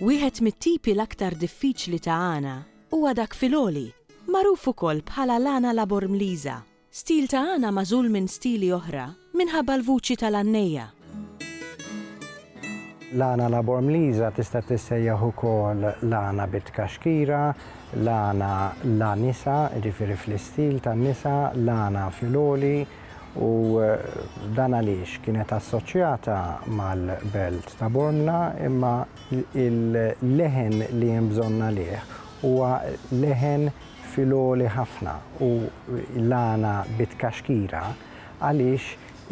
Wieħed mit-tipi l-aktar diffiċli ta' għana huwa dak fil-għoli, magħruf ukoll bħala l-għana labormliża, Stil ta' Ana magħżul minn stili oħra minħabba l-vuċi tal-għannejja. L-għana Labormliża tista' tissejjaħ ukoll l-għana bit-tkaxkira, l-għana La Nisa, jiġifieri fl-istil tan-nisa, l-għana fil-għoli, u dan għaliex kienet assoċjata mal-belt ta' Bormla imma l-leħen li hemm bżonn għalih huwa leħen fil-għoli ħafna u l-għana bi tkaxkira għaliex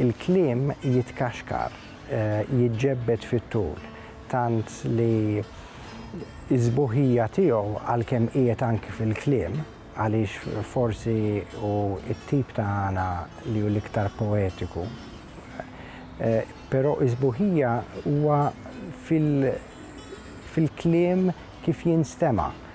il-kliem jitkaxkar, jiġġebbed fit-tul, tant li s-sbuħija tiegħu għalkemm qiegħed anki fil-kliem, għaliex forsi hu t-tip ta' għana li hu l-iktar poetiku, però s-sbuħija huwa fil-kliem kif jinstema'.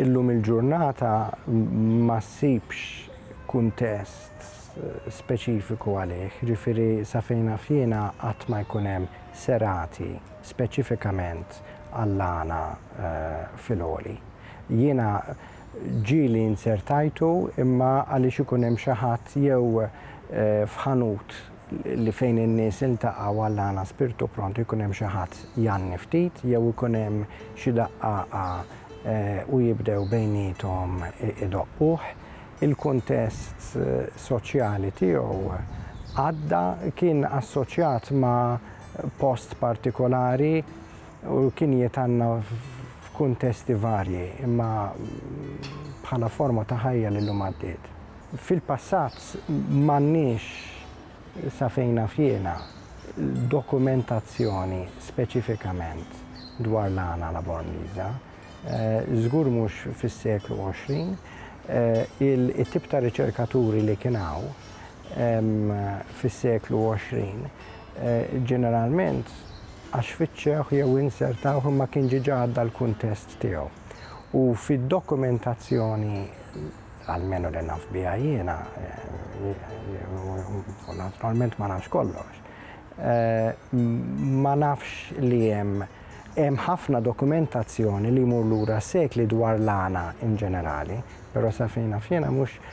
Illum il-ġurnata ma ssibx kuntest eh, speċifiku għalih, ġifiri sa fejna fjena qatt ma jkun hemm serati speċifikament għall-għana eh, fil-oli. Jiena ġieli inzertajtu imma għaliex ikun hemm xi ħadd jew f'ħanut li fejn in-nies iltaqgħu għall-għan a spirtu pronto jkun hemm xi ħadd jgħanni ftit jew ikun hemm xi daqqaqa u jibdew bejniethom idoqquh. Il-kuntest soċjali tiegħu għadda kien assoċjat ma' post partikolari. U l-kinjiet għandna f'kuntesti varji, imma bħala forma ta' ħajja li llum għaddiet. Fil-passat m'għandniex, sa fejn naf jiena, dokumentazzjoni speċifikament dwar l-għana Laborniża, żgur mhux fis-seklu għoxrin. It-tip ta' riċerkaturi li kien hawn fis-seklu 20, ġeneralment għax fittxewh jew insertawh imma kien ġiġa għadda l-kuntest tiegħu. U fid-dokumentazzjoni, almenu li naf biha jiena, u naturalment ma nafx kollox, ma nafx li hemm hemm ħafna dokumentazzjoni li jmur lura s-sekli dwar l-għana in ġenerali, però sa fejn naf jiena mhux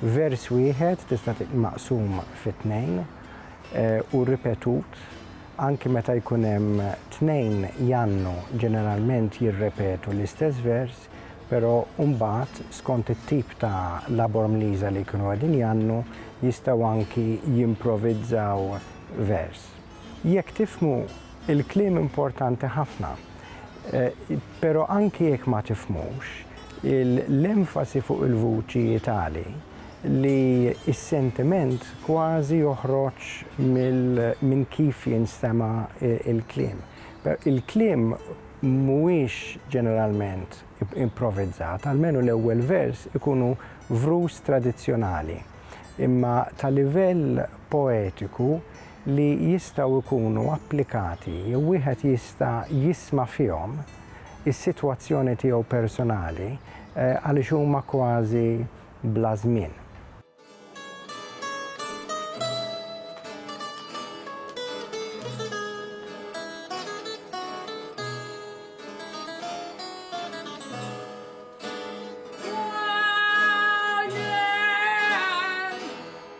vers wieħed tista' tiġi maqsum fi tnejn u ripetut anki meta jkun hemm tnejn jgħannu ġeneralment jirrepetu l-istess vers però mbagħad skont it-tip ta' labor mliża li jkunu qegħdin jgħannu jistgħu anki jimprovizzaw vers. Jekk tifhmu, il-kliem importanti ħafna. Però anki jekk ma tifhmux, l-enfasi fuq il-vuċi hi tali li s-sentiment kważi joħroġ minn kif jinstema' l-kliem. Il-kliem mhuwiex ġeneralment improvizzat, almenu l-ewwel vers ikunu vrus tradizzjonali, imma ta' livell poetiku li jistgħu jkunu applikati jew wieħed jista' jisma' fihom is-sitwazzjoni tiegħu personali għaliex huma kważi bla żmien.